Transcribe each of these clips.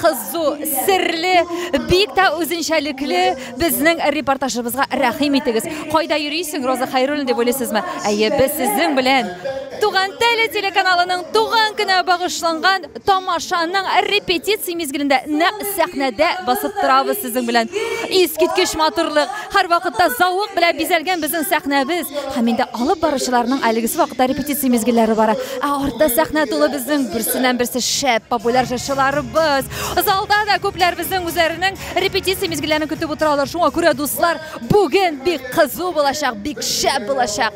Кызу, серле, бик тә үзенчәлекле безнең репортажыбызга рәхим итегез. Кайда йөрисең, Роза Хәйруллина дип уйлыйсызмы? Әйе, без сезнең белән Туган теле телеканалының туган көнә багышланган тамашаның репетиция мизгелендә нәкъ сәхнәдә басып торабыз сезнең белән. Искиткеч матурлык! Һәрвакытта зәвык белән бизәлгән безнең сәхнәбез һәм инде алып баручыларның әлегесе вакытта репетиция мизгелләре бара. Ә артта сәхнә тулы безнең берсеннән-берсе шәп популяр җырчыларыбыз. Залда да күпләр безнең үзләренең репетиция мизгелләрен көтеп утыралар. Шуңа күрә, дуслар, бүген бик кызу булачак, бик шәп булачак.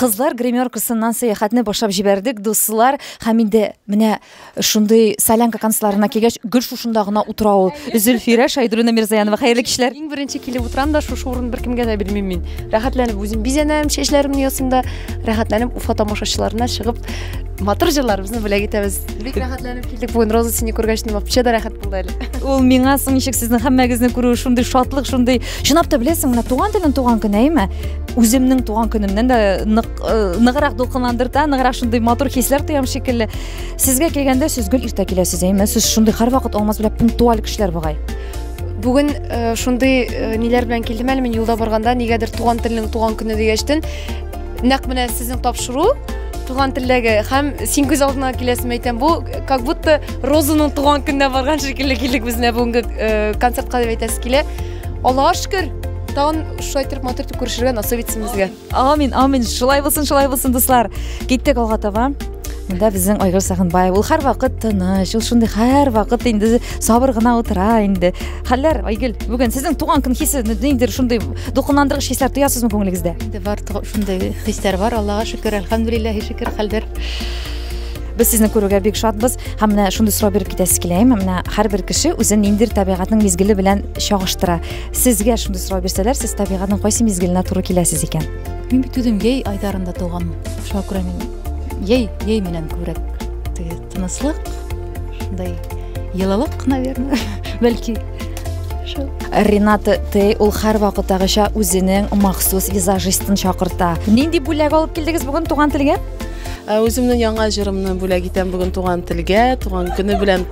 Кызлар гримеркасыннан сәяхәтне башлап җибәрдек, дуслар. Һәм инде менә шундый солянка концертларына килгәч, гел шушында гына утыра ул. Зөлфирә Шайдуллина Мирзаянова, хәерле кичләр. Иң беренче килеп утырам да, шушы урын беркемгә дә бирмим мин. Рәхәтләнеп үзем бизәнәм, чәчләремне ясыйм да, рәхәтләнеп Уфа тамашачыларына чыгып матур җырларыбызны бүләк итәбез. Бик рәхәтләнеп килдек бүген. Роза сине күргәч, ни вообще да рәхәт булды әле. Ул миңа соң ничек сезнең һәммәгезне күрү шундый шатлык, шундый. Чынлап та беләсең, менә туган телен туган көне, әйме? Үземнең туган көнемнән дә нык э, ныграк дулкынландырта, ныграк шундый матур хисләр тоям шикелле. Сезгә килгәндә сез гел иртә киләсез, әйме? Сез шундый һәрвакыт алмаз белән пунктуаль кешеләр бугай. Бүген э, шундый э, ниләр белән килдем әле мин юлда барганда, нигәдер туган телнең туган көне дигәчтен, Нәкъ менә сезнең тапшыру туган телдәге һәм син күз алдына киләсең әйтәм бу как будто розаның туган көненә барган шикелле килдек без менә бүгенге э, концертка дип әйтәсе килә аллага шөкер тагын шулай торып матур итеп күрешергә насыйп итсен безгә амин амин шулай булсын шулай булсын дуслар киттек алга таба Монда безнең Айгөл Сагынбаев. Ул һәрвакыт тыныч, ул шундый һәрвакыт инде сабыр гына утыра инде. Хәлләр, Айгөл, бүген сезнең туган көн хисе ниндидер шундый дулкынландыргыч хисләр тоясызмы күңелегездә? Инде бар шундый хисләр бар, Аллага шөкер, альхамдулиллаһи шөкер, хәлләр. Без сезне күрүгә бик шатбыз. Һәм менә шундый сорау биреп китәсез килә. Менә һәрбер кеше үзен ниндидер табигатьнең мизгеле белән чагыштыра. Сезгә шундый сорау бирсәләр, сез табигатьнең кайсы мизгеленә туры киләсез икән? Мин бит үзем яй айдарында туган. Шуңа күрә мин Ей, ей менән күбрәк теге тыныслык, шундай йылылык, наверное, бәлки. Шул. Рената Тей ул һәрвакыттагыча үзенең махсус визажистын чакырта. Нинди бүләк алып килдегез бүген туган телгә? Ә үземнең яңа җырымны бүләк итәм бүген туган телгә, туган көне белән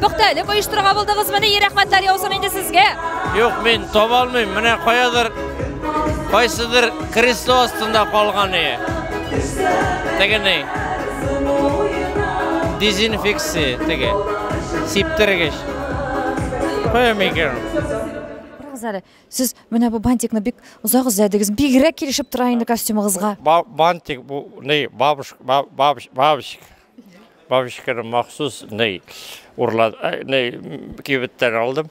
Пөхтәлек оештырырга булдыгызмы? Ни рәхмәтләр яусын инде сезгә. Юк, мин таба алмыйм. Менә каядыр кайсыдыр кресло астында калган ие. Тегене. Дезинфекция теге. Сиптергеч. Кая микер? Барыгыз әле. Сез менә бу бантикны бик озак эзләдегез. Бигрәк килешеп тора инде костюмыгызга. Бантик бу, не, бабушка, бабушка, бабушка. Бабочканы махсус ней урлад, ней кибеттән алдым.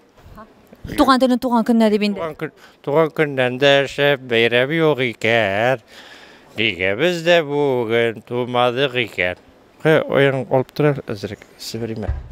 Туган телен туган көннә дип инде. Туган көннән дә шәп бәйрәм юк икән. Нигә без дә бүген тумадык икән? Кы, ояң алып тора әзрәк, сибриме?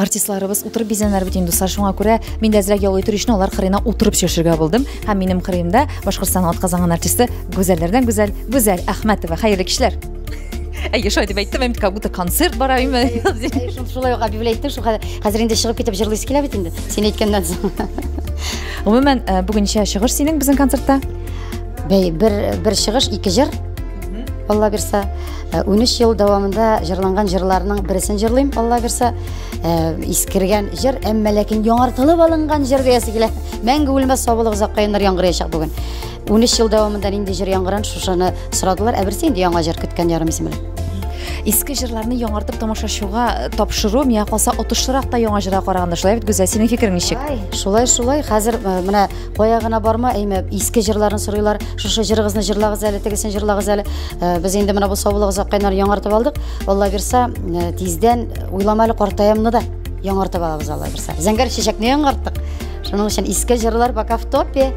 Артистларыбыз утырып бизәнәр бит инде, дуслар, шуңа күрә мин дә әзрәк ял итер өчен алар кырыена утырып чөшергә булдым. Һәм минем кырыемда Башкортстан атказанган артисты Гүзәлләрдән Гүзәл, Гүзәл Әхмәтова. Хәерле кичләр. Әйе, шулай дип әйттем, әйт, как будто концерт бара име. Шулай ук объявлять иттем, шул хәзер инде чыгып китеп җырлыйсы килә бит инде. Син әйткәннән соң. Гомумән, э, бүгенчә чыгыш синең безнең концертта. Бәй, бер бер чыгыш, ике җыр. Алла бирса. Э, унөч ел дәвамында җырланган җырларның бересен җырлыйм алла бирса э, искергән җыр әмма ләкин яңартылып алынган җыр диясе килә мәңге үлмәс сабылык озакка еллар яңгыраячак бүген унөч ел дәвамында нинди җыр яңгыран шушыны сорадылар ә берсе инде яңа җыр көткән ярым исемле иске җырларны яңартып тамашачыга э, тапшыру миңа калса отышлырак та яңа җырга караганда шулай бит гүзәл синең фикерең ничек шулай шулай хәзер менә Кая гына барма, әйме, иске җырларын сорыйлар. Шушы җырыгызны җырлагыз әле, тегесен җырлагыз әле. Э, без инде менә бу саулык заккайнар яңартып алдык. Алла бирса, э, тиздән уйлама әле картаямны да яңартып алабыз Алла бирса. Зәңгәр чәчәкне яңарттык. Шуның өчен иске җырлар пока в топе.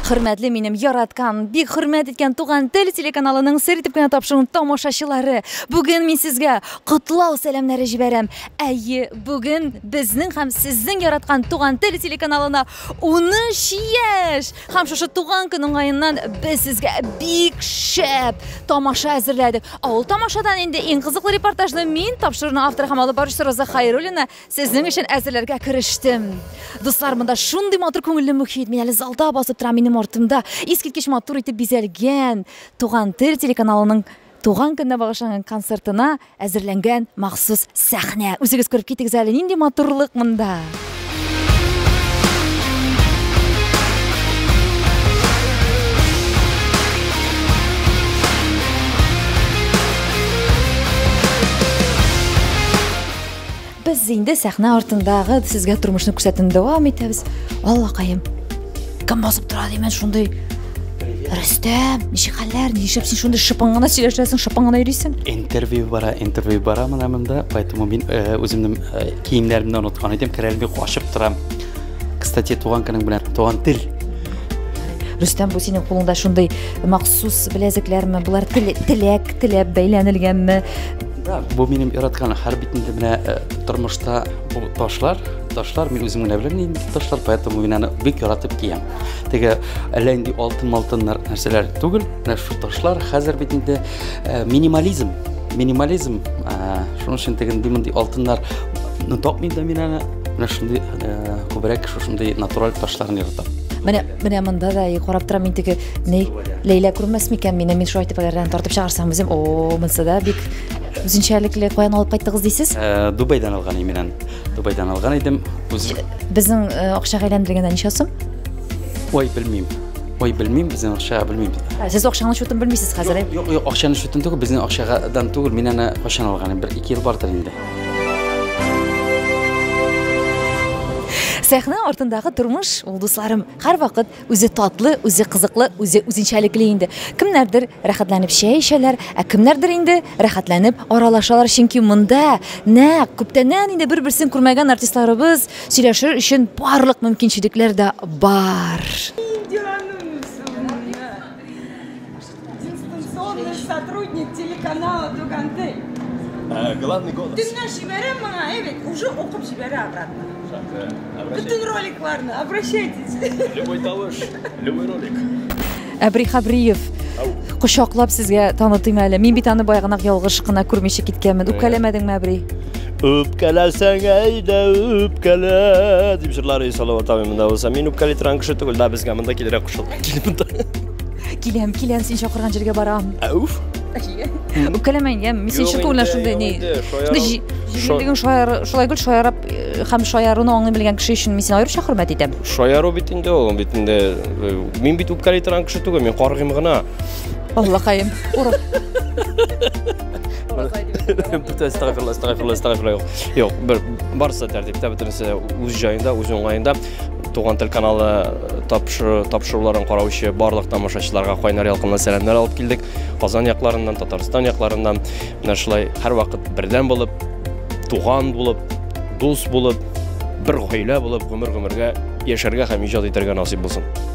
Хөрмәтле минем яраткан, бик хөрмәт иткән Туган тел телеканалының сер итеп кенә тапшыруын тамашачылары. Бүген мин сезгә котлау сәламнәре җибәрәм. Әйе, бүген безнең һәм сезнең яраткан Туган тел телеканалына 13 яшь! Һәм шушы туган көн уңаеннан без сезгә бик шәп тамаша әзерләдек. Ә ул тамашадан инде иң кызыклы репортажны мин, тапшыруның авторы һәм алып баручысы Роза Хайруллина, сезнең өчен әзерләргә керештем. Дуслар, монда шундый матур күңелле мөхит. Мин әле залда басып торам, минем артымда искиткеч матур итеп бизәлгән Туган тел телеканалының Туган көненә багышланган концертына әзерләнгән махсус сәхнә. Үзегез күреп китегез әле, нинди матурлык монда! Без инде сәхнә артындагы сезгә тормышны күрсәтүне дәвам итәбез. Аллакаем. Кем басып тора димән шундый Рөстәм, ничек хәлләр? Нишләп син шундый шыпың гына сөйләшәсең, шыпың гына йөрисең? Интервью бара, интервью бара менә монда, поэтому мин э, үземнең э, киемнәремне оныткан идем, керәлем бик ачып торам. Кстати, туган көнең белән, туган тел. Рөстәм, бу синең кулыңда шундый махсус беләзекләрме? Булар теләк, теләп бәйләнелгәнме? Бу минем яраткан һәр битендә менә э, тормышта бу ташлар, ташлар мин үзем генә беләм инде ташлар, поэтому мин аны бик яратып киям. Теге әллә инде алтын-малтыннар нәрсәләр түгел, менә шу ташлар хәзер бит инде э, минимализм, минимализм, э, шуның өчен теге мондый алтыннар ну, тапмыйм да мин аны. Менә шундый күбрәк шушындый натураль ташларны яратам. Менә Менә монда да и карап торам мин теге ни Ләйлә күрмәс микән мине мин шулай тепәләрдән тартып чыгарсам үзем о монсы да бик үзенчәлекле каян алып кайттыгыз дисез? Э, Дубайдан алган именен. Дубайдан алган идем. Үз Безнең э, акча әйләндергәндә ничә сум? Ой, белмим. Ой, белмим, безнең акча белмим. Ә, Сез акчаның счетын белмисез хәзер. э? Юк, юк, акчаны шутын түгел, безнең акчадан түгел, мин аны кайчан алган, бер ике ел бардыр инде. Сәхнә артындагы тормыш ул, дусларым, һәрвакыт үзе татлы, үзе кызыклы, үзе үзенчәлекле инде. Кемнәрдер рәхәтләнеп чәй эчәләр, ә кемнәрдер инде рәхәтләнеп аралашалар, чөнки монда нәкъ күптәннән инде бер-берсен күрмәгән артистларыбыз сөйләшер өчен барлык мөмкинчелекләр дә бар. Дистанционный сотрудник телеканала Туганты. Э, главный голос. Төнлә җибәрәм моңа, әйбәт, уже укып җибәрә обратно. Бөтен роликларны, обращайтесь. Любой тавыш, любой ролик. Әбри Хабриев, кочаклап сезгә танытыйм әле. Мин бит аны баягынак ялгыш кына күрмичә киткәнмен. Үпкәләмәдеңме, Әбри? Үпкәләсәң әйдә үпкәлә дип җырлар Салават абый монда булса. Мин үпкәли торган кеше түгел, да безгә монда килергә кушыл. Килеп монда. Киләм, киләм, син чакырган җиргә барам. Әүф. Үпкәләмә иңгәм, мин синең чын күңелдән шундый ни. Җиңелдегең шаяр, шулай гел шаярып э, һәм шаяруны аңлый белгән кеше өчен мин сине аеруча хөрмәт итәм. Шаяру бит инде ул, бит инде э, мин бит үпкәли торган кеше түгел, мин каргыйм гына. Аллакаем. Ура. Бүтән стагырлы, стагырлы, стагырлы. Юк, бер барсы тәртиптә, бөтенесе үз җаенда, үз уңаенда. Туган тел каналы тапшыруларын караучы барлык тамашачыларга кайнар ялкынлы сәламнәр алып килдек. Казан якларыннан, Татарстан якларыннан менә шулай һәрвакыт бердәм булып, туган булып, дус булып, бер гаилә булып гомер-гомергә яшәргә һәм иҗат итәргә насыйп булсын.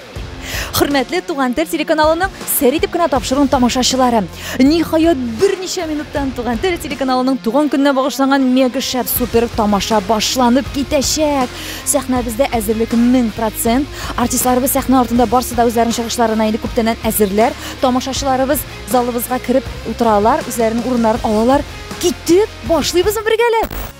Хөрмәтле Туган тел телеканалының сер итеп кенә тапшыруын тамашачылары. Ниһаять берничә минуттан Туган тел телеканалының туган көненә багышланган мега шәп супер тамаша башланып китәчәк. Сәхнәбездә әзерлек 1000%. Артистларыбыз сәхнә артында барсы да үзләренең чыгышларына инде күптәннән әзерләр. Тамашачыларыбыз залыбызга кереп утыралар, үзләренең урыннарын алалар. Китеп башлыйбызмы бергәләп?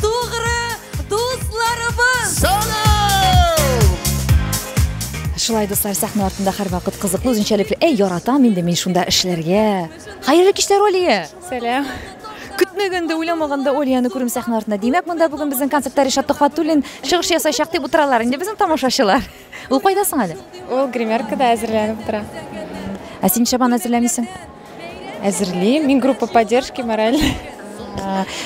Тугры дусларыбыз! Сана! Шулай дуслар сәхнә артында һәрвакыт кызыклы үзенчәлекле. Әй, яратам инде мин шунда эшләргә. Хәерле кичләр, Олия. Сәлам. Көтмәгәндә, уйламаганда Олияны күрүм сәхнә артында. Димәк, монда бүген безнең концертта Ришат Төхвәтуллин чыгыш ясаячак дип утыралар инде безнең тамашачылар. Ул кайда соң әле? Ул гримеркада әзерләнеп тора. Ә син чабан әзерләмисең? Әзерлим. Мин группа поддержки мораль.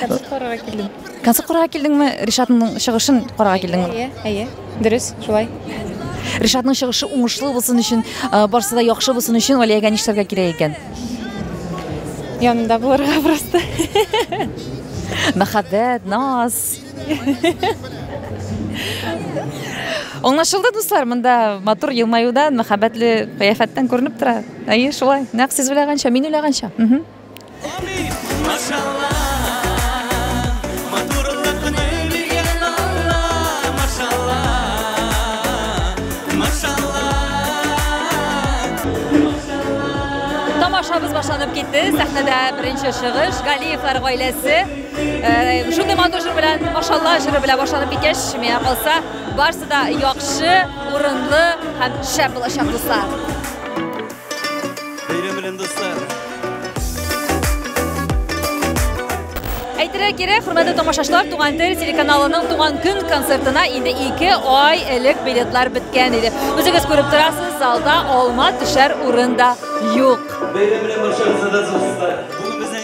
Концерт карарга килдем. Концерт карарга килдеңме? Ришатның чыгышын карарга килдеңме? Әйе, әйе. Дөрес, шулай. Ришатның чыгышы уңышлы булсын өчен, э, барсы да яхшы булсын өчен Валиягә нишләргә кирәк икән? Янында булырга просто. Мәхәббәт, наз. Аңлашылды, дуслар, монда матур елмаюдан, мәхәббәтле кыяфәттән күренеп тора. Әйе, шулай. Нәкъ сез уйлаганча, мин уйлаганча. Мгм. Машалла, матурлыкны биргән Алла, машалла, машалла. Тамашабыз башланып китте. Сәхнәдә беренче чыгыш, Галиевлар гаиләсе. Шундый матур җыр белән башлала, җыры белән башланып киткәч, миңа калса, барысы да яхшы, урынлы һәм шәп булачак дуслар. Бәйрәм белән дуслар. Әйтергә кирәк, хөрмәтле тамашачылар, Туган тел телеканалының туган көн концертына инде 2 ай элек билетлар беткән иде. Үзегез күреп торасыз, залда алма төшәр урын да юк. Бәйрәм белән барчагызны да зур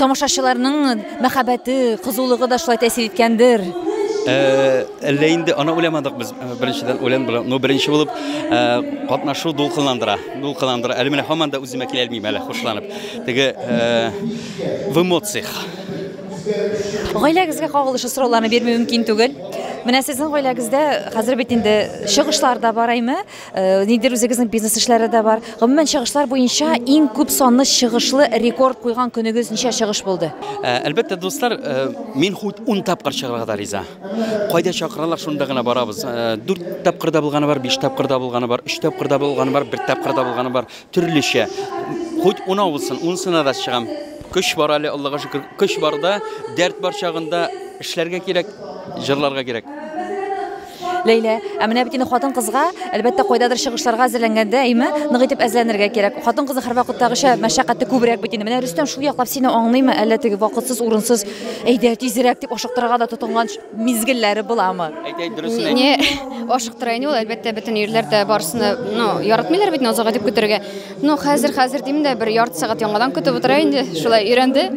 Тамашачыларның мәхәббәте, кызулыгы да шулай тәэсир иткәндер. Әллә инде аны уйламадык без. Беренчедән уйлан белән, ну беренче булып катнашу дулкынландыра. Дулкынландыра. Әле менә һаман да үземә килә алмыйм әле хушланып. Теге в эмоциях. Гаиләгезгә кагылышлы сорауларны бирми мөмкин түгел. Менә сезнең гаиләгездә хәзер бит инде чыгышлар да бар әйме? Э, нидер үзегезнең бизнес эшләре дә бар гомумән чыгышлар буенча иң күп санлы чыгышлы рекорд куйган көнегез ничә чыгыш булды э, әлбәттә дуслар э, мин хут ун тапкыр чыгарга да риза кайда чакыралар шунда гына барабыз дүрт тапкырда булганы бар биш тапкырда булганы бар өч тапкырда булганы бар бер тапкырда булганы бар төрлечә хут унау булсын унсына да чыгам көч бар әле аллага шөкер көч барда дәрт бар чагында эшләргә кирәк җырларга кирәк Ләйлә. Ә менә бит инде хатын-кызга, әлбәттә, кайдадыр чыгышларга әзерләнгәндә, әйме, нык итеп әзерләнергә кирәк. Хатын-кызның һәрвакыттагыча мәшәкате күбрәк бит инде. Менә Рөстәм шул яклап сине аңлыймы, әллә теге вакытсыз, урынсыз, әйдә, тизрәк, дип ашыктырырга да тотынган мизгелләре буламы? Әйт, әйт, дөресен әйт. Не, ашыктыра инде ул, әлбәттә, бөтен ирләр дә барысын да, ну, яратмыйлар бит Назага дип көтәргә. Ну, хәзер, хәзер дим дә, бер ярты сәгать яңадан көтеп утыра инде, шулай өйрәнде.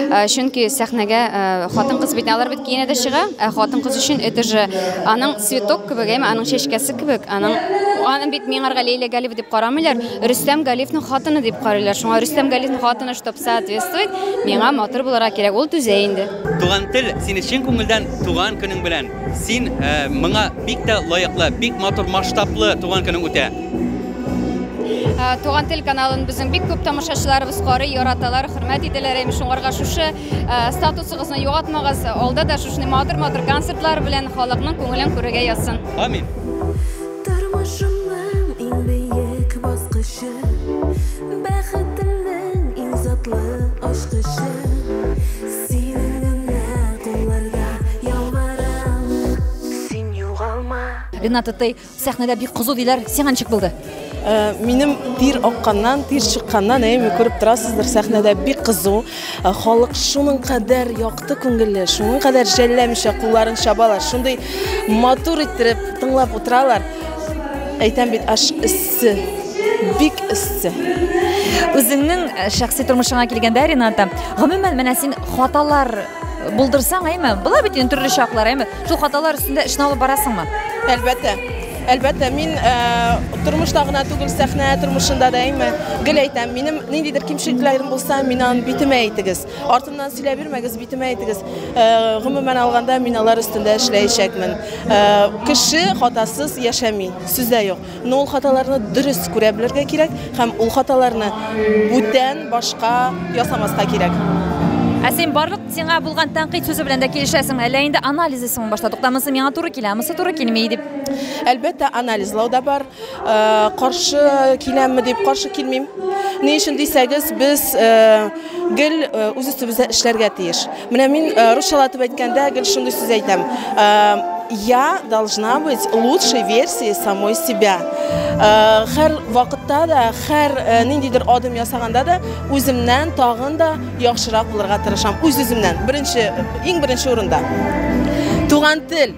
Ә, чөнки сәхнәгә ә, хатын-кыз бит алар бит киенә дә чыга, ә хатын-кыз өчен это же аның цветок кебек, әйме, аның чәчкәсе кебек, аның аны бит миңарга Лейлә Галиева дип карамыйлар, Рөстәм Галиевның хатыны дип карыйлар. Шуңа Рөстәм Галиевның хатыны чтоб соответствовать, миңа матур булырга кирәк, ул түзә инде. Туган тел, сине чын күңелдән туган көнең белән! Син ә, моңа бик тә лаеклы, бик матур масштаблы туган көнең үтә. Ә, туган тел каналын безнең бик күп тамашачыларыбыз карый, яраталар, хөрмәт ителәр. Әйм шуңарга шушы ә, статусыгызны югатмагыз. Алда да шушны матур-матур концертлар белән халыкның күңелен күрергә язсын. Амин. Тормышымның иң бөек баскычы, бәхетемнең иң затлы ачкычы. Синең генә кулларда ялварам. Син югалма. Ренат Эттей, сәхнәдә бик кызу диләр, сиңа ничек булды? Э, минем тир акканнан, тир чыкканнан, әйме, күреп торасыздыр, сәхнәдә бик кызу. Э, халык шуның кадәр якты күңелле, шуның кадәр жәлләмичә кулларын чабалар, шундый матур иттереп тыңлап утыралар. Әйтәм бит, аш Эссе. Бик эссе. Үзеңнең э, шәхси тормышыңа килгәндә, Рената, гомумән менә син хаталар булдырсаң, әйме? Була бит инде төрле чаклар, әйме? Шул хаталар өстендә эшне алып барасыңмы? Әлбәттә. Әлбәттә, мин э, тормышта гына түгел, сәхнә тормышында да әйме. Гел әйтәм, минем ниндидер кимчелекләрем булса, мин аны битемә әйтегез. Артымнан сөйләп бирмәгез, битемә әйтегез. Э, гомумән алганда, мин алар өстендә эшләячәкмен. Э, кеше хатасыз яшәми, сүздә юк. Но ул хаталарны дөрес күрә белергә кирәк һәм ул хаталарны бүтән башка ясамаска кирәк. Ә син барлык сиңа булган тәнкыйть сүзе белән дә килешәсеңме, әллә инде анализисыңмы башта? Тукта, монысы миңа туры килә, монысы туры килми, дип. Әлбәттә, анализлау да бар. Э, каршы киләмме дип, каршы килмим. Ни өчен дисәгез, без э, гел э, үз өстебездә эшләргә тиеш. Менә мин э, русчалатып әйткәндә гел шундый сүз әйтәм. Э, я должна быть лучшей версией самой себя. Э, хәр вакытта да, хәр ниндидер адым ясаганда да үземнән тагын да яхшырак булырга тырышам. Үз-үземнән. Беренче, иң беренче урында. Туган тел.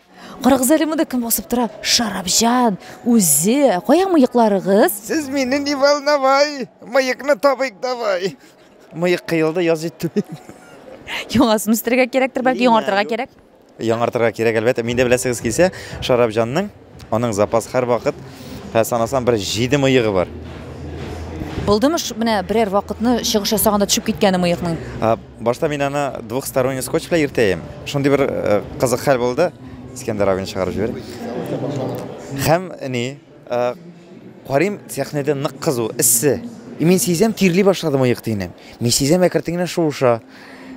Карагыз әле монда кем басып тора? Шарапҗан үзе. Кая мыекларыгыз? Сез мине не волновай. Мыекны табыйк давай. Мыек кыелды, яз җитте. Яңасын үстерергә кирәктер, бәлки яңартырга кирәк. Яңартырга кирәк, әлбәттә. Миндә беләсегез килсә, Шарапҗанның аның запас һәр вакыт һәр санасам бер 7 мыегы бар. Булдымы менә берәр вакытны чыгыш ясаганда төшеп киткәне мыекның? Башта мин аны двухсторонний скотч белән иртәем. Шундый бер э, кызык хәл булды. Искәндәр абыны чыгарып җибәрде. Һәм ни, э, карыйм, сәхнәдә нык кызу, эссе. И мин сизәм, тирли башлады мыек дигән. Мин сизәм, әкертен генә шуыша.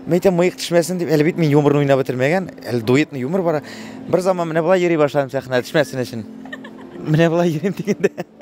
Мин әйтәм, мыек төшмәсен дип, әле бит мин юморны уйнап бетермәгән, әле дуэтный юмор бара. Бер заман менә болай йөри башладым сәхнәдә төшмәсен өчен. Менә болай йөрим дигәндә.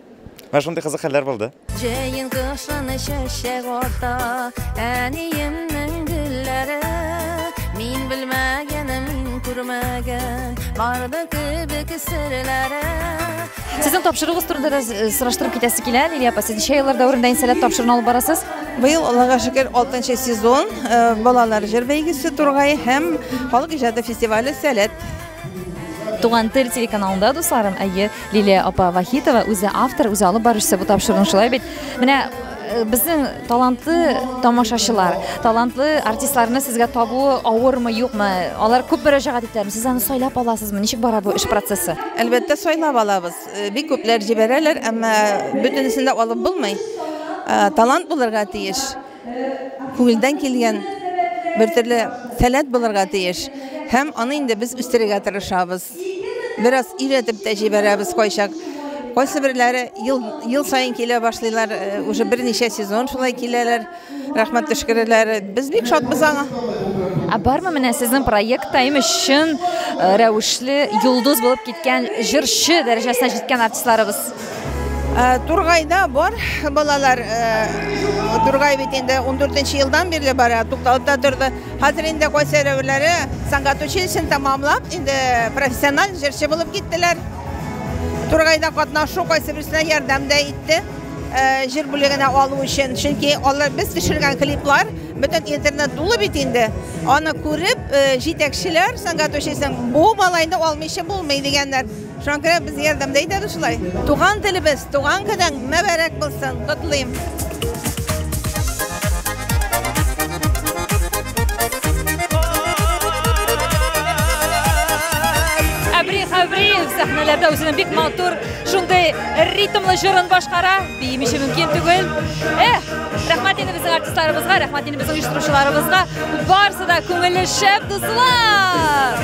Менә шундый кызык хәлләр булды. Җәен кышын чәчәк ата, әниемнең гөлләре. Мин белмәгән, мин күрмәгән, барды кебек серләре. Сезнең тапшыруыгыз турында да э, сораштырып китәсе килә, Лилия апа. Сез ничә еллар дәверендә инсәләт тапшыруын алып барасыз? Быел Аллага шөкер 6 сезон э, балалар җыр бәйгесе Тургай һәм халык иҗаты фестивале Сәләт Туган тел телеканалында, дусларым, әйе, Лилия апа Вахитова үзе автор, үзе алып баручы бу тапшыруның шулай бит. Менә Э, безнең талантлы тамашачылар, талантлы артистларны сезгә табу авырмы, юкмы? Алар күп мөрәҗәгать итәме? Сез аны сайлап аласызмы? Ничек бара бу эш процессы? Әлбәттә, сайлап алабыз. Э, бик күпләр җибәрәләр, әмма бөтенесен дә алып булмый. Э, талант булырга тиеш. Күңелдән килгән бер төрле сәләт булырга тиеш. Һәм аны инде без үстерергә тырышабыз. Бераз өйрәтеп тә җибәрәбез кайчак. Кайсы берләре ел, ел саен килә башлыйлар, э, уже берничә сезон шулай киләләр, рәхмәт төшкерәләр. Без бик шатбыз аңа. Ә бармы менә сезнең проектта имеш чын э, рәвешле йолдыз булып киткән җырчы дәрәҗәсенә җиткән артистларыбыз? Э, Тургайда бар балалар, э, Тургай бит инде 14 елдан бирле бара, тукталыпта торды. Хәзер инде кайсы рәвеләре сәнгать училищен тәмамлап, инде профессиональ җырчы булып киттеләр. Тургайда катнашу кайсы берсенә ярдәм дә итте. Э, җыр бүлегенә алу өчен, чөнки алар без төшергән клиплар бөтен интернет тулы бит инде. Аны күреп, җитәкчеләр сәнгать училищен бу малайны алмыйча булмый дигәннәр. Шуңа күрә без ярдәмдә итәбез шулай. Туган телебез, туган көнең мәбәрәк булсын, котлыйм. сәхнәләрдә үзенең бик матур шундый ритмлы җырын башкара биим өчен мөмкин түгел эх рәхмәт инде безнең артистларыбызга рәхмәт инде безнең оештыручыларыбызга барысы да күңелле шәп дуслар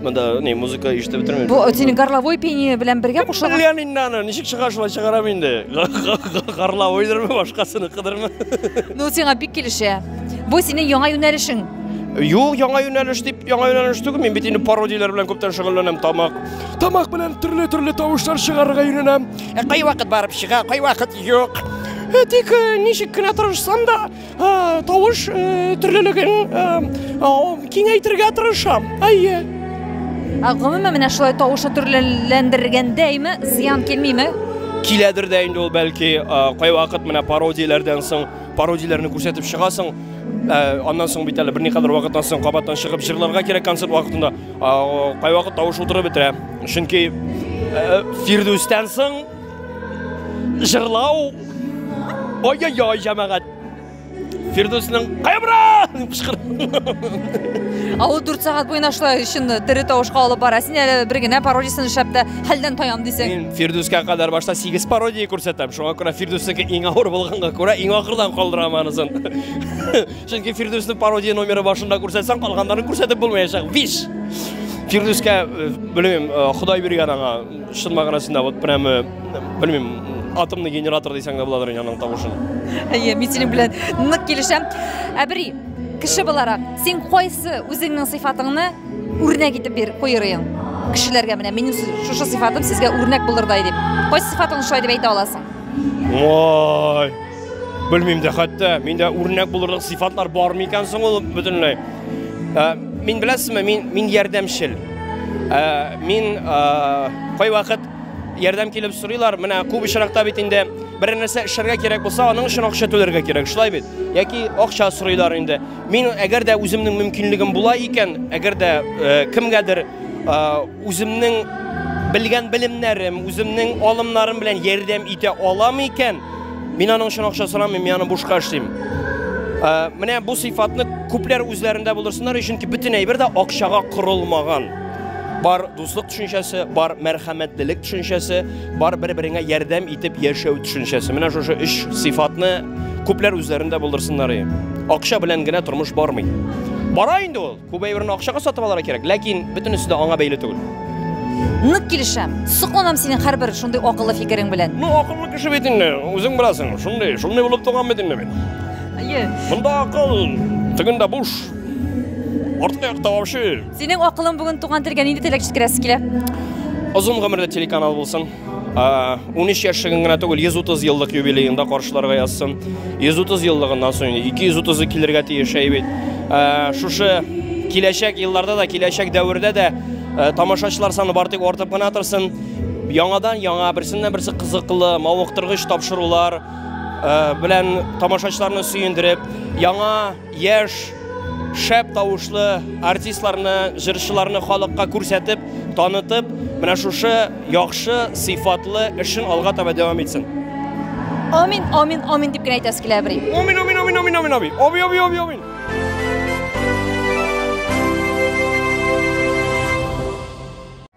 Монда не музыка ишетеп бетермим. Бу синең горловой пение белән бергә кушылган. Белмәм инде аны, ничек чыга шулай чыгарам инде. Горловойдырмы, башкасыныкыдырмы? Ну сиңа бик килешә. Бу синең яңа юнәлешең. Юк, яңа юнәлеш дип, яңа юнәлеш түгел, мин бит инде пародияләр белән күптән шөгыльләнәм, тамак. Тамак белән төрле-төрле тавышлар чыгарырга өйрәнәм. Кай вакыт барып чыга, кай вакыт юк. Тик ничек кенә тырышсам да, тавыш төрлелеген киңәйтергә тырышам. Әйе. Ә гомумән менә шулай тавышы төрлеләндергәндә име зыян килмиме? Киләдер дә инде ул бәлки кайвакыт менә пародияләрдән соң пародияләрне күрсәтеп чыгасың. Аннан соң бит әле берникадәр вакыттан соң кабаттан чыгып җырларга кирәк концерт вакытында. Кайвакыт тавыш утырып бетерә. Чөнки Фирдүстән соң Җырлау. Ой-ой-ой, җәмәгать. Фирдүснең кайбра дип кычкыр. Ау 4 сәгать буена шулай өчен тере тавышка алып бара. Син әле бер генә пародиясен эшләп тә хәлдән таян дисең. Мин Фирдүскә кадәр башта 8 пародия күрсәтәм. Шуңа күрә Фирдүснеке иң авыр булганга күрә иң ахырдан калдырам анысын. Чөнки Фирдүснең пародия номеры башында күрсәтсәң, калганнарын күрсәтеп булмаячак. Виш. Фирдүскә, э, белмим, э, Ходай биргән аңа Чын мәгънәсендә вот прямо белмим, атомный генератор дисәң дә буладыр инде аның тавышын. Әйе, мин синең белән нык килешәм. Әбри, кеше буларак, син кайсы үзеңнең сыйфатыңны үрнәк итеп бир куер идең? Кешеләргә менә минем шушы сыйфатым сезгә үрнәк булырдай дип. Кайсы сыйфатыңны шулай дип әйтә аласың? Ой! Белмим дә хәтта, миндә үрнәк булырлык сыйфатлар бар микән соң ул бөтенләй? Ә, мин беләсезме, мин мин ярдәмчел. Ә, мин ә, кай вакыт ярдәм килеп сорыйлар, менә күп очракта бит инде бер нәрсә эшләргә кирәк булса, аның өчен акча түләргә кирәк, шулай бит? Яки акча сорыйлар инде. Мин әгәр дә үземнең мөмкинлегем була икән, әгәр дә ә, кемгәдер ә, Үземнең белгән белемнәрем, үземнең алымнарым белән ярдәм итә алам икән, мин аның өчен акча сорамыйм, мин аны бушка эшлим. Ә, менә бу сыйфатны күпләр үзләрендә булдырсыннар, чөнки бөтен әйбер дә акчага корылмаган. Бар дуслык төшенчәсе, бар мәрхәмәтлелек төшенчәсе, бар бер-береңә ярдәм итеп яшәү төшенчәсе. Менә шушы өч сыйфатны күпләр үзләрендә булдырсыннар. Акча белән генә тормыш бармый. Бара инде ул. Күп әйберне акчага сатып алырга кирәк, ләкин бөтенесе дә аңа бәйле түгел. Нык килешәм. Сокланам синең һәрбер шундый акыллы фикерең белән. Ну, акыллы кеше бит инде, үзең беләсең. Шундый, шундый булып туган бит инде мин. Әйе. Монда акыл тегендә буш. Артка якта вообще. Синең акылың бүген туган телгә нинди теләк җиткерәсе килә? Озын гомерле телеканал булсын. 13 яшьлеген генә түгел, 130 еллык юбилеен да каршыларга язсын. 130 еллыгыннан соң 230-ы килергә тиеш әй бит. Шушы киләчәк елларда да, киләчәк дәвердә дә тамашачылар саны бар тик артып кына торсын. Яңадан яңа берсеннән берсе кызыклы, мавыктыргыч тапшырулар белән тамашачыларны сөендереп, яңа Яшь, шәп тавышлы артистларны, җырчыларны халыкка күрсәтеп, танытып, менә шушы яхшы, сыйфатлы эшен алга таба дәвам итсен. Амин, амин, амин дип кенә әйтәсе килә, әбри. Амин, амин, амин, амин, амин, амин. Амин, амин, амин, амин.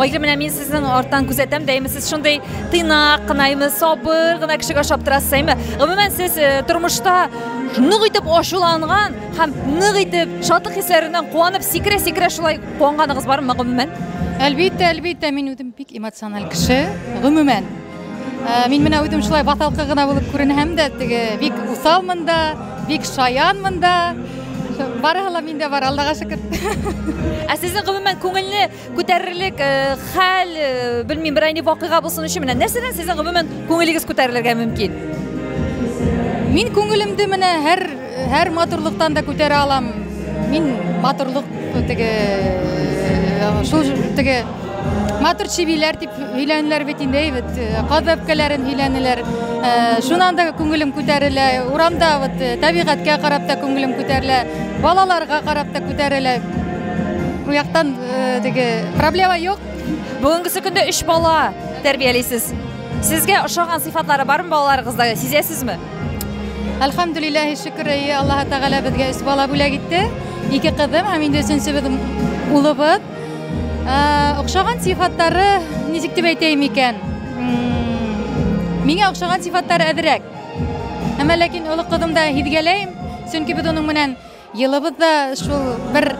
Айгы менә мин сезнең арттан күзәтәм, дәйме сез шундый тыйнак кына, әйме сабыр гына кешегә ошап торасыз, әйме. Гомумән сез э, тормышта нык итеп ачуланган һәм нык итеп шатлык хисләреннән куанып сикерә-сикерә шулай куанганыгыз бармы гомумән? Әлбиттә, әлбиттә, мин үзем бик эмоциональ кеше, гомумән. Э, мин менә үзем шулай баталкы гына булып күренәм дә теге бик усалмын да бик шаянмын да барыһы ла миндә бар аллага шөкер ә сезнең гомумән күңелне күтәрерлек э, хәл э, белмим берәй ни вакыйга булсын өчен менә нәрсәдән сезнең гомумән күңелегез күтәрелергә мөмкин мин күңелемде менә һәр Һәр матурлыктан да күтәрә алам. Мин матурлык теге шул теге матур чибиләр дип өйләнеләр бит инде бит каз бәбкәләрен өйләнеләр шунан да күңелем күтәрелә урамда вот табигатькә карап та күңелем күтәрелә балаларга карап та күтәрелә бу яктан теге проблема юк бүгенгесе көндә өч бала тәрбиялисез сезгә ошаган сыйфатлары бармы балаларыгызда сизәсезме Әлхәмдүлилләһи шөкер, әйе, Аллаһ Тәгалә безгә өч бала бүләк итте. Ике кызым һәм инде өченчебез улыбыз. Охшаган сыйфатлары ничек дип әйтәйем икән? Миңа охшаган сыйфатлары әзрәк. Әмма ләкин олы кызымда һизгәләйм, чөнки без аның менән Елыбыз да шул бер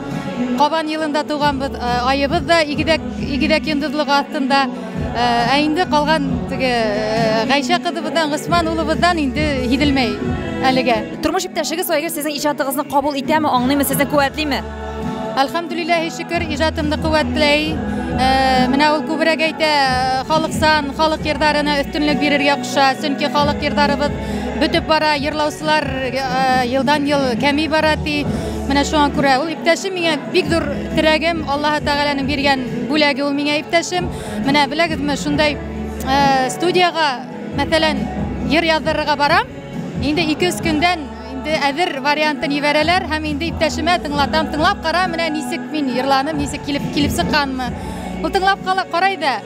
кабан елында туганбыз, э, аебыз да игедәк игедәк йондызлыгы астында. Э, ә инде калган теге э, Гайшә кызыбыздан, Госман улыбыздан инде һиделмәй әлегә. Тормыш иптәшегез Айгөл сезнең иҗатыгызны кабул итәме, аңлыймы, сезне куәтлиме? Әлхәмдүлилләһи шөкер, иҗатымны куәтләй. Менә ул күбрәк әйтә, халыксан, халык йырдарына өстенлек бирергә куша, чөнки халык йырдарыбыз бөтеп бара, йырлаучылар елдан-ел кәми бара ди. Менә шуңа күрә ул иптәшем миңа бик зур терәгем, Аллаһы Тәгаләнең биргән бүләге ул миңа иптәшем. Менә беләгезме, шундай студиягә, мәсәлән, йыр яздырырга барам. Инде 2-3 көндән инде әзер вариантын ибәрәләр һәм инде иптәшемә тыңлатам, тыңлап кара, менә ничек мин йырланым, ничек килеп килеп чыкканмы. Ул тыңлап кала, карай да,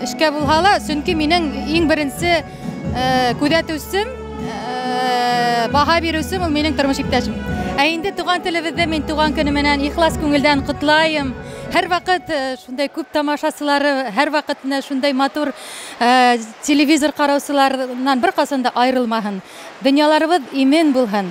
Эшкә булһа ла, чөнки минең иң беренче э, күзәтүчем, э, баһа бирүчем ул минең тормыш иптәшем. Ә инде туган телебездә мин туган көне менән ихлас күңелдән котлаем. Һәрвакыт э, шундай күп тамашачылары, һәрвакыт менә шундай матур э, телевизор караучыларыннан беркайчан да аерылмаһын. Дөньяларыбыз имен булһын.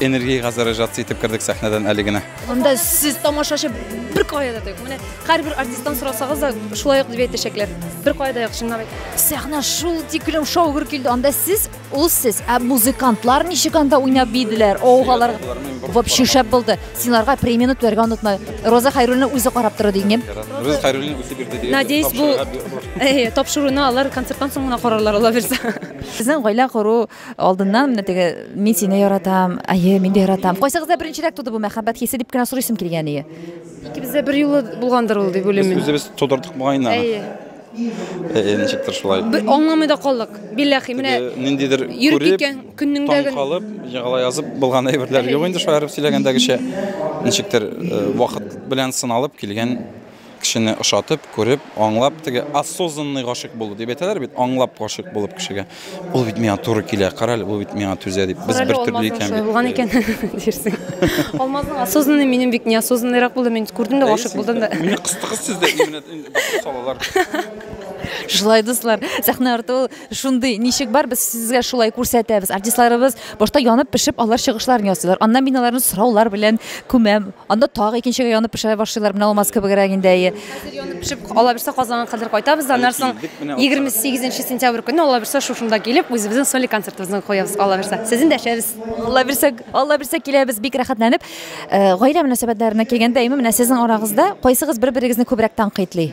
Энергия газарыжация итеп кердек сәхнәдән әле генә. Анда сез тамашачы бер кая да тык. Менә һәрбер артисттан сорасагыз да шулай ук дип әйтәчәкләр. Бер кая да юк чынлап әйт. Сәхнә шул тиклем шаугыр килде. Анда сез, ул сез. Ә музыкантлар ничек анда уйнап биеделәр? Оугалар вообще шәп булды. Синларга премияне түләргә онытма. Роза Хайруллина үзе карап торды дигән. Рус Хайруллин үзе бирде диген. Надеюсь, бу тапшыруны алар концерттан соң гына карарлар, ала бирсә. Сезнең гаилә кору Алдыннан менә теге мин сине яратам, әйе, мин дә яратам. Кайсыгызда беренчерәк туды бу мәхәббәт хисе дип кенә сорыйсым килгән ие. Икебездә бер юлы булгандыр ул дип уйлыйм мин. Без үзебез тудырдык бугайны. Әйе. Әйе, ничектер шулай. Бер аңламый да калдык. Билләхи, менә ниндидер йөреп киткән көннеңдә генә. Калып, җагала язып булган әйберләр юк инде шаярып сөйләгәндәгечә. Ничектер вакыт белән сыналып килгән Кешене ошатып, күреп, аңлап, теге осознанный гашыйк булу дип әйтәләр бит, аңлап гашыйк булып кешегә. Ул бит миңа туры килә, карале, ул бит миңа түзә дип. Без бер төрле икән бит. Булган икән дирсең. Алмазның осознанный минем бик неосознанныйрак булды, мин күрдем дә гашык булдым да. Мине кыстыгыз сез дә именно салалар. Шулай дуслар, сәхнә арты ул Шундый ничек бар, без сезгә шулай күрсәтәбез. Артистларыбыз башта янып пешеп алар чыгышларын ясыйлар. Аннан мин аларны сораулар белән күмәм. Анда тагы икенчегә янып пешә башлыйлар. Менә алмаз кебегрәк инде әйе. Хәзер янып пешеп ала бирсә Казанга кадәр кайтабыз. Аннан соң 28 сентябрь көне ала бирсә шушында килеп үзебезнең соли концертыбызны куябыз. Ала бирсә сезне дәшәбез. Ала бирсә, ала бирсә киләбез. Бик рәхәтләнеп. Э, гаилә мөнәсәбәтләренә килгәндә, әйме, менә сезнең арагызда кайсыгыз бер-берегезне күбрәк танкыйтлый?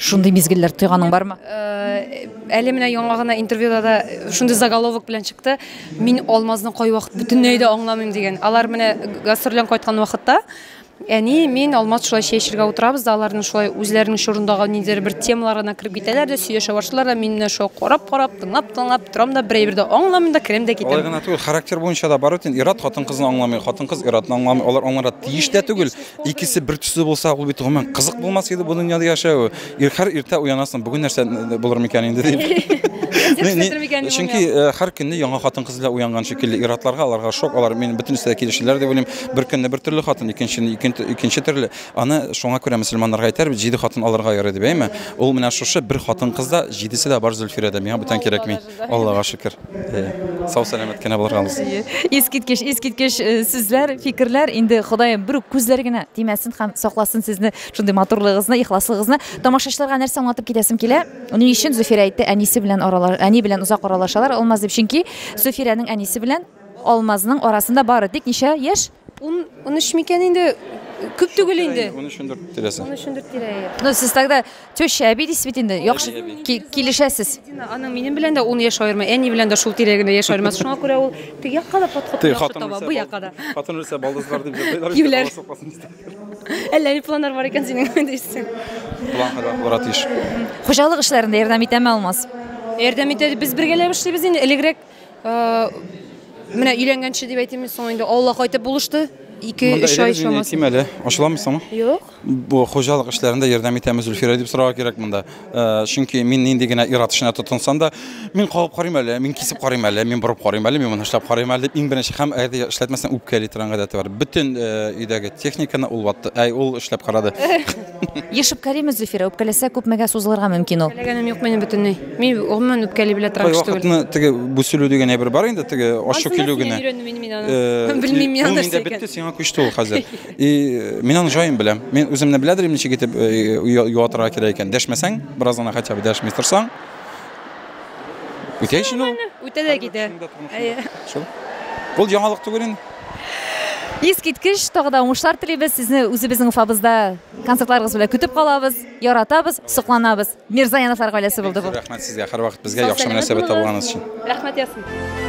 Шундый мизгелләр тойганың бармы? Э, әле менә яңа гына интервьюда да шундый заголовок белән чыкты. Мин алмазны кайвакыт бөтенләй дә аңламыйм дигән. Алар менә гастрольдән кайткан вакытта әни мин алмаз шулай чәй эчәргә утырабыз да аларның шулай үзләренең чорындагы ниндидер бер темалар гына кереп китәләр дә сөйләшә башлыйлар да мин менә шулай карап карап тыңлап тыңлап торам да берәйбер дә аңламыйм да керәм дә китәм алай гына түгел характер буенча да бар бит инде ир-ат хатын кызны аңламый хатын кыз ир-атны аңламый алар аңларга тиеш тә түгел Икесе бер төсле булса, ул бит гомумән кызык булмас иде бу дөньяда яшәве. Ирхәр иртә уянасың, бүген нәрсә булыр микән инде дип. Чөнки һәр көнне яңа хатын кыз белән уянган шикелле иратларга, аларга шок, алар мин бөтен нәрсә килешүләр дип уйлыйм. Бер көнне бер төрле хатын, икенчене икенче төрле. Аны шуңа күрә мөселманнарга әйтәр бит, җиде хатын алырга ярый дип, әйме? Ул менә шушы бер хатын кызда җидесе дә бар Зөлфирәдә. Миңа бүтән кирәкми. Аллага шөкер. Сау сәламәт кенә булырга алсын. Искиткеч, искиткеч э, сүзләр, фикерләр. Инде Ходаем бер үк күзләр генә тимәсен һәм сакласын сезне шундый матурлыгыгызны, ихласлыгыгызны. Тамашачыларга нәрсә аңлатып китәсем килә? Ни өчен Зөфирә әйтте, әнисе белән аралаш, әни белән озак аралашалар Алмаз дип. Чөнки Зөфирәнең әнисе белән Алмазның арасында бары тик ничә яшь? Ун, унөч микән инде? Күп түгел инде. Унөч, ундүрт тирәсе. Унөч, ундүрт тирәе. Ну, сез тогда теща, әби дисез бит инде. Яхшы килешәсез. Аның минем белән дә ун яшь аерма, әни белән дә шул тирәгенә яшь аерма. Шуңа күрә ул теге якка да подход яхшы таба, бу якка да. Хатын үлсә, балдызлар дип җырлыйлар. Юләр. Әллә ни планнар бар икән синең дисең. План хәлвәт булырга тиеш. Хуҗалык эшләрендә ярдәм итәме Алмаз? Ярдәм итә. Без бергәләп эшлибез инде. Элегрәк Менә өйләнгәнче дип әйтим, соң инде Алла кайтып булышты. 2-3 ай чамасы. Әйтим әле, ачыламыйсыңмы? Юк. Бу хуҗалык эшләрендә ярдәм итәме Зөлфирә дип сорарга кирәк монда. Э, чөнки мин нинди генә ир-ат эшенә тотынсам да, мин кагып карыйм әле, мин кисеп карыйм әле, мин борып карыйм әле, мин моны эшләп карыйм әле дип иң беренче һәм әгәр эшләтмәсәң үпкәли торган гадәте бар. Бөтен э, өйдәге техниканы ул ватты, әй ул эшләп карады. Ешып Кәримов Зөфирә үпкәләсә күпмегә сузылырга мөмкин ул? Теләгәнем юк минем бөтенләй. Мин гомумән үпкәли белә торган кеше түгел. Кайвакытны теге бүселү дигән әйбер бар инде, теге ачу килү генә. Белмим мин аны нәрсә икән. Бетте, сиңа күчте ул хәзер. И мин аны җаен беләм. Мин үземне беләдер инде ничек итеп юатырга кирәк икән. Дәшмәсәң, бераз гына хотя бы дәшми торсаң. Үтә ичен ул. Үтә дә китә. Шул. Ул яңалык түгел инде. Искиткеч, тагы да уңышлар телибез. Сезне үзебезнең Уфабызда концертларыгыз белән көтеп калабыз, яратабыз, сокланабыз. Мирзаяновлар гаиләсе булды бу. Рәхмәт сезгә һәрвакыт безгә яхшы мөнәсәбәт табылганыгыз өчен. Рәхмәт ясин.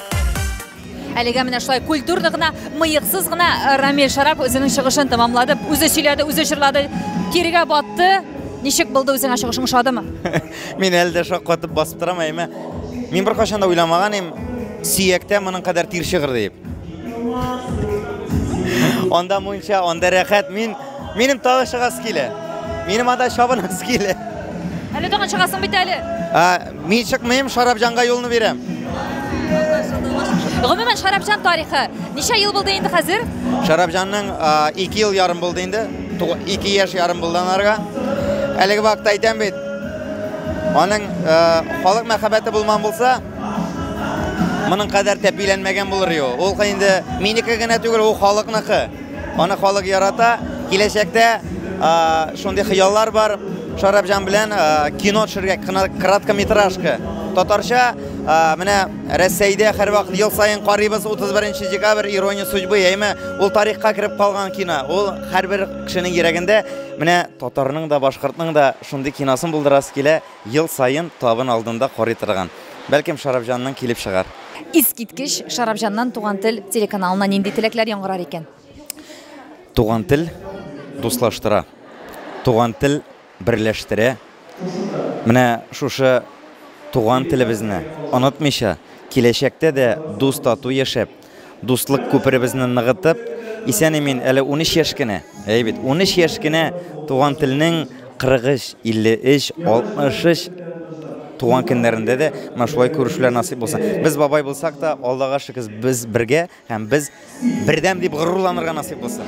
Әлегә менә шулай культурно гына, мыйыксыз гына э, Рамиль Шарап үзенең чыгышын тәмамлады. Үзе сөйләде, үзе җырлады, кирегә батты. Ничек булды үзеңә чыгышың ошадымы? Мин әле дә шаккатып басып торам, әйме. Мин бер кашанда уйламаган идем, сөяктә моның кадәр тир чыгыр дип. Анда мунча, анда рәхәт, мин Минем тагы чыгасы килә. Минем анда чабынасы килә. Әле тагын чыгасың бит әле. Мин чыкмыйм, Шарапҗанга юлны бирәм. Гомумән, Шарапҗан тарихы. Ничә ел булды инде хәзер? Шарапҗанның 2 ел ярым булды инде. 2 яшь ярым булды анарга. Әлеге вакытта әйтәм бит, аның халык мәхәббәте булман булса, моның кадәр тәпиләнмәгән булыр иде ул. Ул инде минеке генә түгел, ул халыкныкы. Аны халык ярата. Киләчәктә шундый хыяллар бар. Шарапҗан белән кино төшергә, краткометражка. Татарча менә Рәсәйдә һәрвакыт ел саен карыйбыз 31 декабрь ирония судьбы, яме ул тарихка кереп калган кино. Ул һәрбер кешенең йөрәгендә. Менә татарның да, башкортның да шундый киносын булдырасы килә. Ел саен табын алдында карый торган. Бәлкем, Шарапҗанның килеп чыгар. Искиткеч! Шарапҗаннан Туган тел телеканалына нинди теләкләр яңгырар икән? Туган тел дуслаштыра. Туган тел берләштерә. Менә шушы туган телебезне онытмыйча, киләчәктә дә дус-тату яшәп, дуслык күперебезне ныгытып, исән-имин, әле 13 яшь кенә, әй бит, 13 яшь кенә туган телнең 43, 53, 63 туган көннәрендә дә менә шулай күрешүләр насыйп булсын. Без бабай булсак та, Аллага шөкер, без бергә һәм без бердәм дип горурланырга насыйп булсын.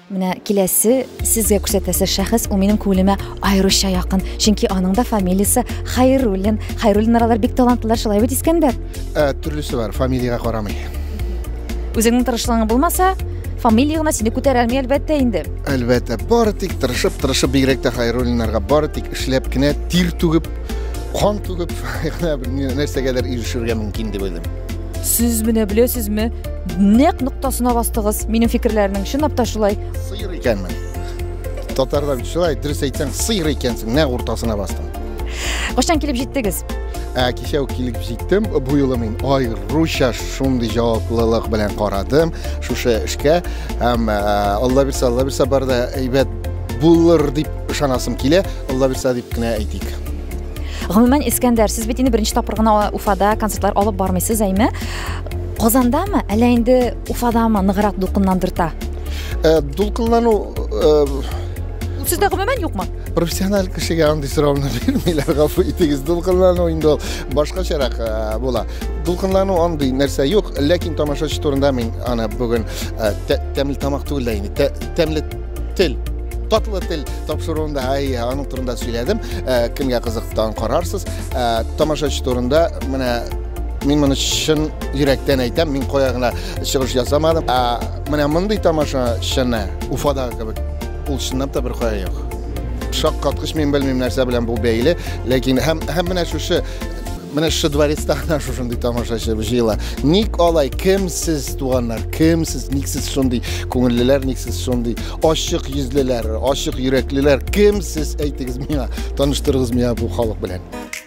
Менә киләсе сезгә күрсәтәсе шәхес, ул минем күңелемә аеруча якын, чөнки аның да фамилиясе Хайруллин. Хайруллин аралар бик талантлылар, шулай бит, Искәндәр? Ә, төрлесе бар, фамилиягә карамый. Үзеңнең тырышлыгың булмаса, фамилия гына сине күтәрәлми, әлбәттә инде. Әлбәттә, бары тик тырышып, тырышып бигрәк тә Хайруллиннарга бары тик эшләп кенә тир түгеп, кан түгеп, гына нәрсәгәдер ирешергә мөмкин дип уйлыйм. Сез менә беләсезме, Нәкъ ноктасына бастыгыз. Минем фикерләрнең чынлап та шулай. Сыйыр икәнмен. Татарда бит шулай, дөрес әйтсәң, сыйыр икәнсең, нәкъ уртасына бастың. Качан килеп җиттегез? Ә кичә үк килеп җиттем. Бу юлы мин аеруча шундый җаваплылык белән карадым шушы эшкә. Һәм ә, Алла бирса, Алла бирса бар да әйбәт булыр дип ышанасым килә. Алла бирса дип кенә әйтик. Гомумән, Искәндәр, сез бит инде беренче тапкыр гына Уфада концертлар алып бармыйсыз, әйме? Казандамы, әллә инде Уфадамы ныграк дулкынландырта? Э, дулкынлану э, Ул сездә гомумән юкмы? профессиональ кешегә андый сорауны бирмиләр, гафу итегез. Дулкынлану инде ул башкачарак э, була. Дулкынлану андый нәрсә юк, ләкин тамашачы турында мин аны бүген э, тә- тәмле тамак түгел дә инде, тә- тәмле тел татлы тел тапшыруында ай аның турында сөйләдем Э, кемгә кызыктан карарсыз Э, тамашачы турында менә Мин моны чын йөрәктән әйтәм, мин кая гына чыгыш ясамадым. Ә менә мондый тамаша чыны Уфадагы кебек. Ул чынлап та бер кая юк. Шаккаткыч мин белмим нәрсә белән бу бәйле, ләкин һәм һәм менә шушы менә шушы дворецта гына шушындый тамашачы җыела. Ник алай? Кем сез, туганнар? Кем сез? Ник сез шундый күңеллеләр? Ник сез шундый ачык йөзлеләр, ачык йөрәклеләр? Кем сез? Әйтегез миңа, таныштырыгыз миңа бу халык белән.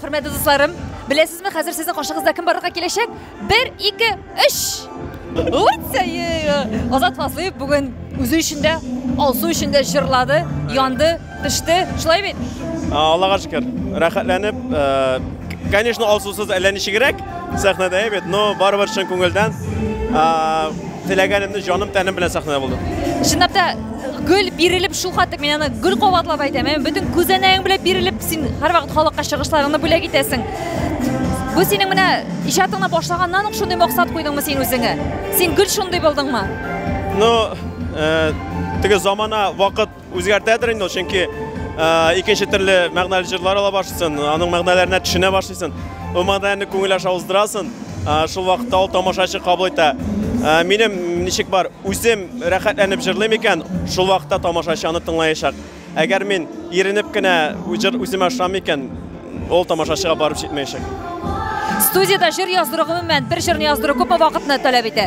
Хөрмәтле дусларым, беләсезме, хәзер сезнең каршыгызда кем барырга киләчәк? Бер, ике, өч! Азат Фазлыев бүген үзе өчен дә, Алсу өчен дә җырлады, янды, пеште. Шулай бит? Аллага шөкер, рәхәтләнеп. Конечно, Алсусыз әллә ничегрәк. Сәхнәдә әйбәт, но барыбер чын күңелдән теләгәнемне җаным тәнем белән сәхнәдә булдым. Чынлап та гөл бирелеп шул хәтле мин аны гөл кабатлап әйтәм. Ә бөтен күзәнәгең белән бирелеп син һәрвакыт халыкка чыгышларыңны бүләк итәсең. Бу синең менә иҗатыңны башлаганнан ук шундый максат куйдыңмы син үзеңә? Син гөл шундый булдыңмы? Ну, э, теге замана вакыт Үзгәртәдер инде ул, чөнки икенче төрле мәгънәле җырлар ала башлыйсын, аның мәгънәләренә төшенә башлыйсын. Ул мәгънәләрне күңел аша уздырасын, шул вакытта ул тамашачы кабул итә. Минем ничек бар, үзем рәхәтләнеп җырлыйм икән, шул вакытта тамашачы аны тыңлаячак. Әгәр мин иренеп кенә җыр үземә ошамый икән, Ул тамашачыга барып җитмәячәк. Студиядә җыр яздыру гомумән бер җырны яздыру күпме вакытны таләп итә?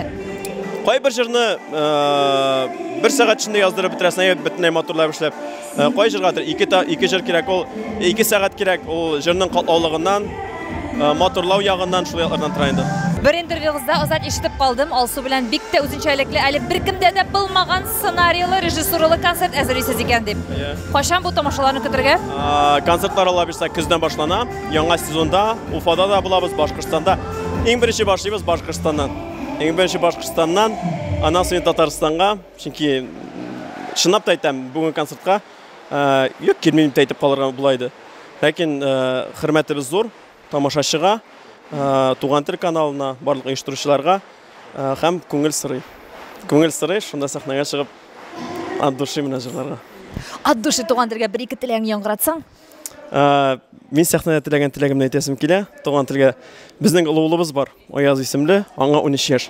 Кайбер җырны э, бер сәгать эчендә яздырып бетерәсең, әгәр бөтенләй матурлап эшләп. Э, Кай җырга дер- ике та- ике җыр кирәк, ул ике сәгать кирәк, ул җырның катлаулыгыннан, э, матурлау ягыннан, шул яклардан тора инде. Бер интервьюгызда озак ишетеп калдым, Алсу белән бик тә үзенчәлекле, әле беркемдә дә булмаган Сценарийлы, режиссуралы концерт әзерлисез икән дип. Кайчан бу тамашаларны көтергә? Концертлар алла бирсә көздән башлана. Яңа сезонда Уфада да булабыз, Башкортстанда. Иң беренче башлыйбыз Башкортстаннан. Иң беренче Башкортстаннан, аннан соң Татарстанга, чөнки чынлап та әйтәм, бүген концертка юк килмим дип әйтеп калырга була иде. Ләкин хөрмәтебез зур тамашачыга, Туган тел каналына, барлык оештыручыларга. Һәм күңел сорый. Күңел сорый, шунда сәхнәгә чыгып от души менә җырларга. От души туган телгә бер-ике теләгең яңгыратсаң? Мин сәхнәдә теләгән теләгемне әйтәсем килә. Туган телгә безнең олы улыбыз бар, Аяз исемле, аңа унөч яшь.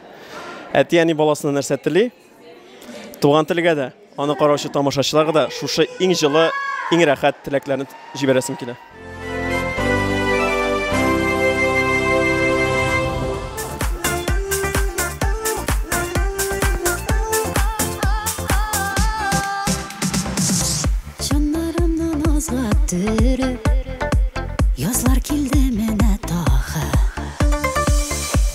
Әти-әни баласына нәрсә тели? Туган телгә дә, аны караучы тамашачыларга да шушы иң җылы, иң рәхәт теләкләрне җибәрәсем килә. Чаннарымны назга төреп, Язлар килде менә тагы.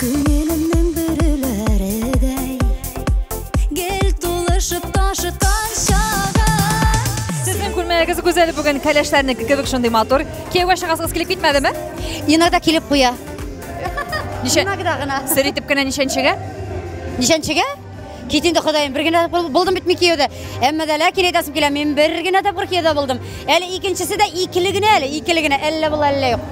Күңелемнең бөреләредәй, Гел тулышып ташыткан чагы. Сезнең күлмәгегез гүзәл бүген, кәләшләрнеке кебек шундый матур. Кияүгә чыгасыгыз килеп китмәдеме? Иногда килеп куя. Ничә? Иногда гына. Сер итеп кенә ничәнчегә? Ничәнчегә? Кит инде Ходаем, бер генә тапкыр булдым бит мин кияүдә. Әмма дә ләкин әйтәсем килә, мин бер генә тапкыр кияүдә булдым. Әле икенчесе дә икеле генә әле, икеле генә, әллә була, әллә юк.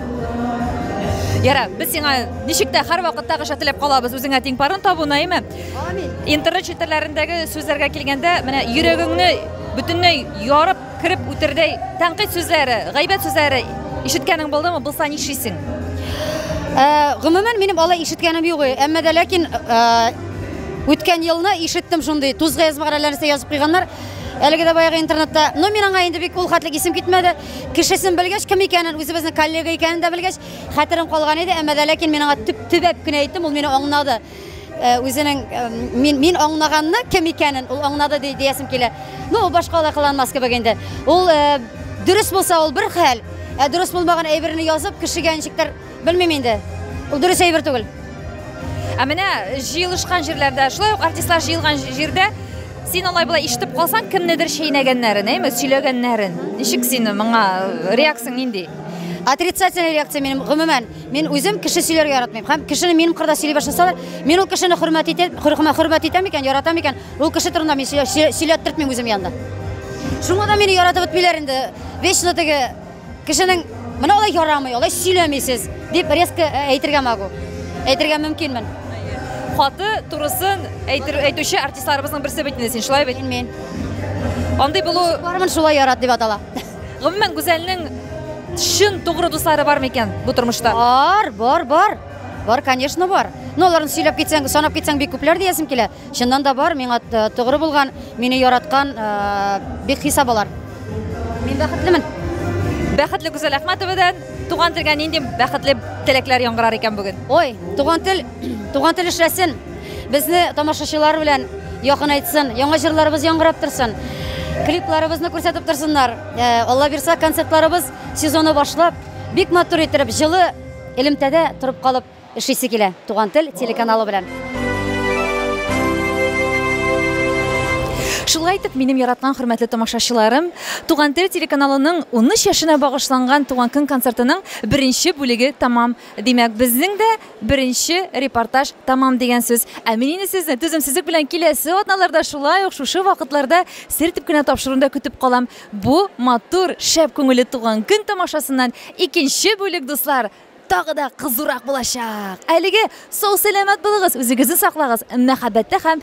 Яра, без сиңа ничек тә һәр вакытта гыша теләп калабыз, үзеңә тиң парын табу, Наима. Амин. Интернет челтәрләрендәге сүзләргә килгәндә, менә йөрәгеңне бөтенләй ярып Кереп үтердәй тәнкыйть сүзләре, гайбәт сүзләре ишеткәнең булдымы? Булса нишлисең? Э, гомумән минем алай ишеткәнем юк, әмма дә ләкин э, үткән елны ишеттем шундый тузга язмагарәләрсә язып куйганнар. Әлеге дә баягы интернетта. Но мин аңа инде бик ул хәтлек исем китмәде. Кешесен белгәч, кем икәнен, үзебезнең коллега икәнен дә белгәч, хәтерем калган иде, әмма дә ләкин мин аңа төп төбәп кенә әйттем, ул мине аңнады. Э, үзенең э, мин мин аңлаганны кем икәнен ул аңлады ди диясем килә ну ул башка алай кыланмас кебек инде ул э, дөрес булса ул бер хәл ә дөрес булмаган әйберне язып кешегә ничектер белмим инде ул дөрес әйбер түгел ә менә җыелышкан җирләрдә шулай ук артистлар җыелган җирдә син алай былай ишетеп калсаң кемнедер чәйнәгәннәрен әйме сөйләгәннәрен ничек син моңа реакцияң нинди отрицательный реакция минем гомумән Мин үзем кеше сөйләргә яратмыйм. Һәм кешене минем кырда сөйли башласалар, мин ул кешене хөрмәт итеп, хөрмәт итәм икән, яратам икән, ул кеше турында мин сөйләттертмим үзем янда. Шуңа да мине яратып бетмиләр инде. Вечно теге кешенең менә алай ярамый, алай сөйләмисез дип резко э, әйтергә могу. Әйтергә мөмкинмен. Хаты турысын әйтер әйтүче артистларыбызның берсе бит инде син, шулай бит? Мин. Андый булу... Бармын шулай ярат дип атала. Гомумән, Гүзәлнең чын тугры дуслары бар микән бу тормышта? Бар, бар, бар. Бар, конечно, бар. Но аларны сөйләп китсәң, санап китсәң бик күпләр диясем килә. Чыннан да бар, миңа э, тугры булган, мине яраткан э, бик хисап алар. Мин бәхетлемен. Бәхетле Гүзәл Әхмәтовадан туган телгә нинди бәхетле теләкләр яңгырар икән бүген? Ой, туган тел Туган тел эшләсен, безне тамашачылар белән якынайтсын, яңа җырларыбыз яңгырап торсын. Клипларыбызны күрсәтеп торсыннар. Э, Алла бирса, концертларыбыз сезоны башлап, бик матур иттереп, җылы элемтәдә торып калып эшлисе килә. Туган тел телеканалы белән. Шулай итеп, минем яраткан хөрмәтле тамашачыларым, Туган тел телеканалының 13 яшенә багышланган туган көн концертының беренче бүлеге тәмам. Димәк, безнең дә Беренче репортаж тәмам дигән сүз. Ә мин инде сезне түземсезлек белән киләсе атналарда шулай ук шушы вакытларда сертеп кенә тапшыруны да көтеп калам. Бу матур, шәп күңелле туган көн тамашасыннан икенче бүлек, дуслар, тагы да кызурак булачак. Әлеге сау-сәламәт булыгыз, үзегезне саклагыз, мәхәббәттә һәм